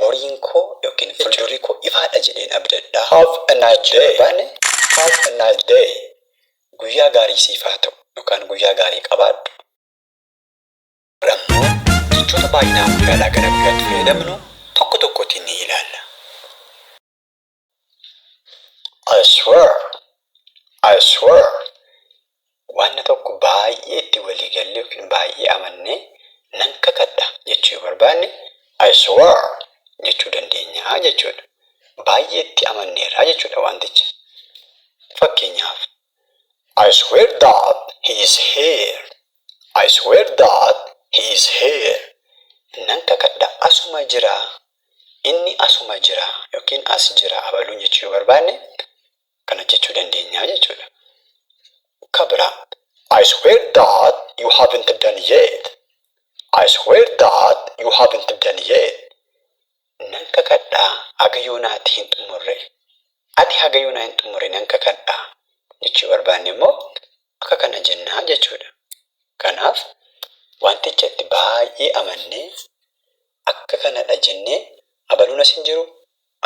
Boriin koo ykn fuldurri koo ifaadha jedheen abdadha. Have a nice day Torbaan Have a nice day Guyyaa gaarii siif haa ta'u yookaan Guyyaa gaarii qabaadhu. Har'ammoo jechoota baay'inaan guyyaadhaa gara guyyaatti fayyadamnu tokko tokkotiin ni ilaalla. I swear I swear wanna tokko baay'ee itti walii galle yookiin baay'ee amanne nan kakadha jechuu yoo barbaanne I swear jechuu dandeenya jechuudha. Baay'ee itti amanneerra jechuudha wanticha. Fakkeenyaaf I swear that he is here. I swear that he is here Nan kakadha asuma jira Inni asuma jira ykn as jira abaluun jechuu yoo barbaanne kana hojjechuu dandeenya jechuudha. Ka biraa. I swear that you haven't done yet I swear that you haven't done yet nan kakadha haga yoonaa ati hin xumurre ati haga yoonaa hin xumurre nan kakadha jechuu barbaanne immoo akka kana jennaa jechuudha. Kanaaf wanticha itti baay'ee amannee akka kanadha jennee abaluun as hin jiru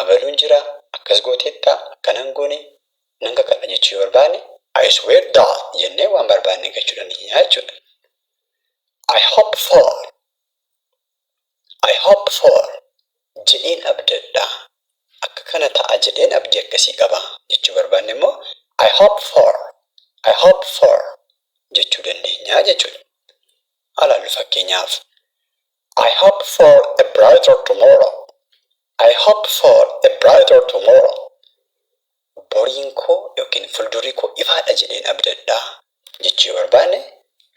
abaluun jira akkas gooteetta akkana hin goone nan kakadha jechuu yoo barbaanne I swear that jennee waan barbaanne gachuu dandeenya jechuudha. I hope for I hope for jedheen abdadha akka kana ta'a jedheen abdii akkasii qaba jechuu barbaanne immoo I hope for I hope for jechuu dandeenya jechuudha. Haa laallu fakkeenyaaf I hope for a brighter tomorrow I hope for a brighter tomorrow boriin koo yookiin fuldurri koo ifaadha jedheen abdadha jechuu yoo barbaanne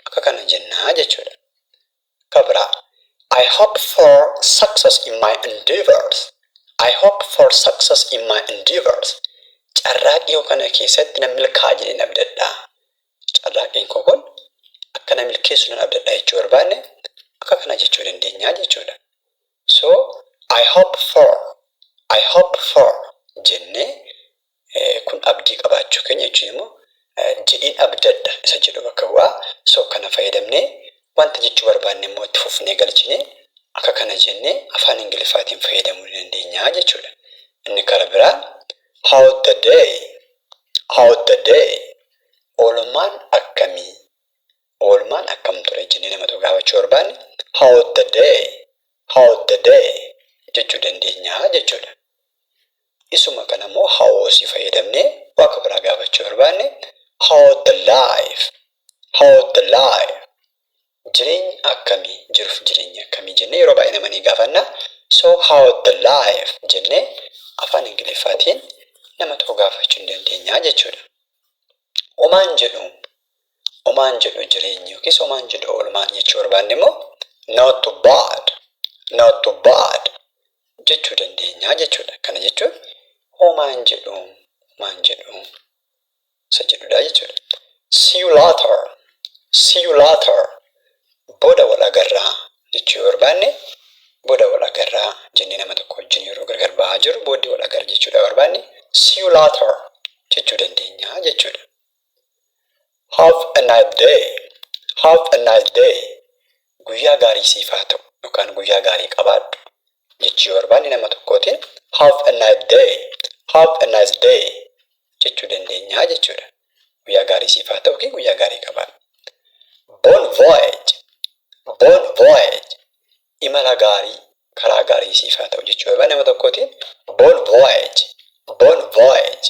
akka kana jennaa jechuudha. Ka biraa, I hope for success in my endeavors, I hope for success in my endeavors, Carraaqqii koo kana keessatti nan milkaa'a jedheen abdadha. Carraaqqiin koo kun akka na milkeessu nan abdadha jechuu barbaanne akka kanaa jechuu dandeenya jechuudha. So, I hope for, I hope for jennee Kun abdii qabaachuu keenya jechuun immoo jedheen abdadha isa jedhu bakka bu'a. So kana fayyadamnee wanta jechuu barbaanne immoo itti fufnee galchinee akka kana jennee afaan Ingiliffaatiin fayyadamuu ni dandeenya jechuudha. Inni kara biraa how's the day? How's the day? Oolmaan akkamii? Oolmaan akkam ture jennee nama tokko gaafachuu barbaanne how's the day? How's the day? jechuu dandeenya jechuudha. Isuma kana immoo how si fayyadamnee waka biraa gaafachuu barbaanne how the life how the life jireenyi akkamii jiruf jireenyi akkamii jennee yeroo baay'ee nama ni gaafanna so how the life jennee afaan ingiliffaatiin nama tokko gaafachuu ni dandeenya jechuudha. Omaan jedhu Homaan jedhu jireenyi yookiis homaan jedhu oolmaan jechuu barbaanne immoo not bad, not bad jechuu dandeenya jechuudha. Kana jechuun homaan jedhu, homaan jedhu isa jedhudha jechuudha. See you later, see you later booda wal agarra jechuu yoo barbaanne booda wal agarra jennee nama tokko wajjin yeroo gargar ba'aa jirru booddee wal agarra jechuudha barbaanne see you later jechuu dandeenya jechuudha. Have a nice day Have a nice day Guyyaa gaarii siif haa ta'u yookaan guyyaa gaarii qabaadhu jechuu yoo barbaanne nama tokkootiin Have a nice day Have a nice day jechuu dandeenya jechuudha. Guyyaa gaarii siif haa ta'u guyyaa gaarii qabaadhu. Bon voyage Bon voyage Imala gaarii karaa gaarii siif haa ta'u jechuu yoo barbaanne nama tokkootiin Bon voyage Bon voyage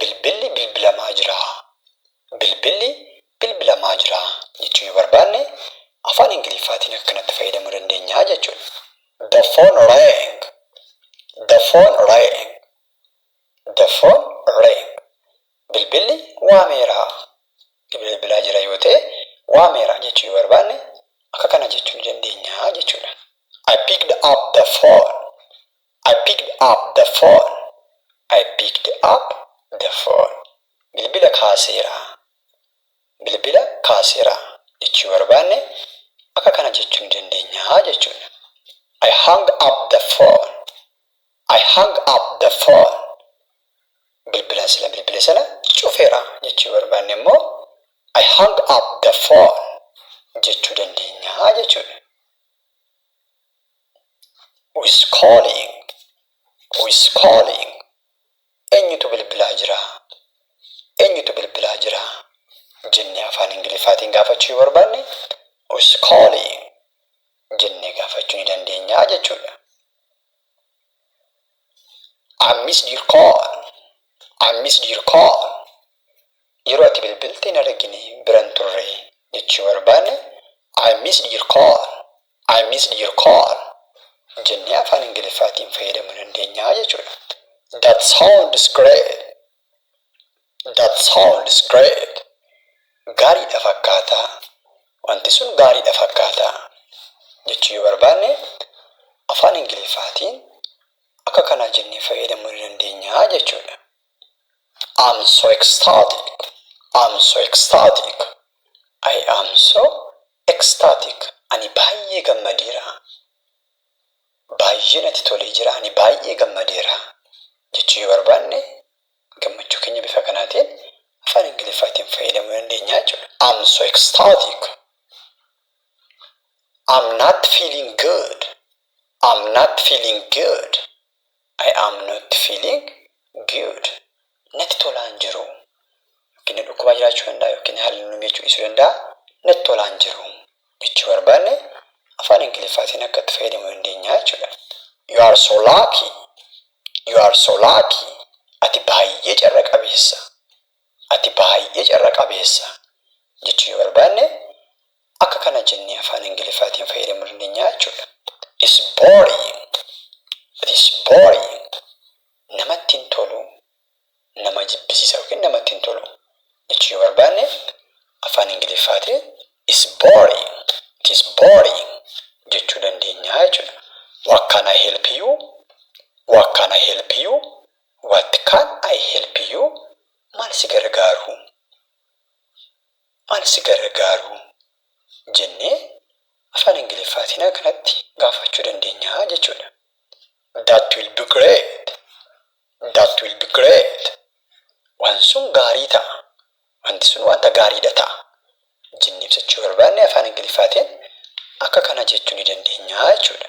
Bilbilli bilbilamaa jira. Bilbilli bilbilamaa jira jechuu yoo barbaanne afaan Ingiliffaatiin akka kanatti fayyadamuu dandeenya jechuudha. The phone rang. The phone rang. The phone rang. Bilbilli waameera. Bilbilli bilbilaa jira yoo ta'e waameera jechuu yoo barbaanne akka kana jechuu ni dandeenya jechuudha. I picked up the phone. I picked up the phone. I picked up the phone. Bilbila kaaseera. Bilbila kaaseera jechuu yoo barbaanne akka kana jechuu ni dandeenya jechuudha. I hung up the phone. I hung up the phone. Bilbilan sila bilbile sana cufeera jechuu yoo barbaanne immoo I hung up the phone jechuu dandeenya jechuudha. Who is calling? Who is calling? Eenyutu bilbilaa jira? Eenyutu bilbilaa jira? jennee afaan Ingiliffaatiin gaafachuu yoo barbaanne Who is calling? jennee gaafachuu ni dandeenya jechuudha. I missed your call. I missed your call. Yeroo ati bilbilte hin argine biran turre jechuu barbaanne I missed your call. I missed your call jennee afaan Ingiliffaatiin fayyadamuu dandeenya jechuudha. That sounds great. That sounds great. Gaariidha fakkaata. Wanti sun gaariidha fakkaata. Jechuu yoo barbaanne afaan Ingiliffaatiin akka kanaa jennee fayyadamuu ni dandeenya jechuudha. I'm so ecstatic I'm so ecstatic I am so ecstatic Ani baay'ee gammadeera Baay'ee natti tolee jira Ani baay'ee gammadeera jechuu yoo barbaanne gammachuu keenya bifa kanaatiin afaan Ingiliffaatiin fayyadamuu dandeenya jechuudha. I'm so ecstatic. I'm not feeling good. I'm not feeling good. I am not feeling good. Natti tolaa hin jiru. Yookiin na dhukkubaa jiraachuu danda'a yookiin haalli nu miidhachuu dhiisuu danda'a. Natti tolaa hin jiru. Jechuu barbaanne afaan Ingiliffaatiin akka itti fayyadamuu dandeenya jechuudha. You are so lucky. You are so lucky. Ati baay'ee carra qabeessa. Ati baay'ee carra qabeessa jechuu yoo barbaanne akka kana jennee afaan ingiliffaatiin fayyadamuu dandeenya jechuudha. It's boring. It's boring. Namatti hin tolu, nama jibbisiisa yookiin namatti hin tolu jechuu yoo barbaanne afaan ingiliffaatiin it's boring. It is boring jechuu dandeenya jechuudha. What can I help you? What can I help you? What can I help you? Maal si gargaaruu? Maal si gargaaruu? jennee Afaan Ingiliffaatiin akkanatti gaafachuu dandeenya jechuudha. That will be great! That will be great! Waan sun gaarii ta'a. Wanti sun wanta gaariidha ta'a. Jennee ibsachuu yoo barbaanne Afaan Ingiliffaatiin akka kana jechuu ni dandeenya jechuudha.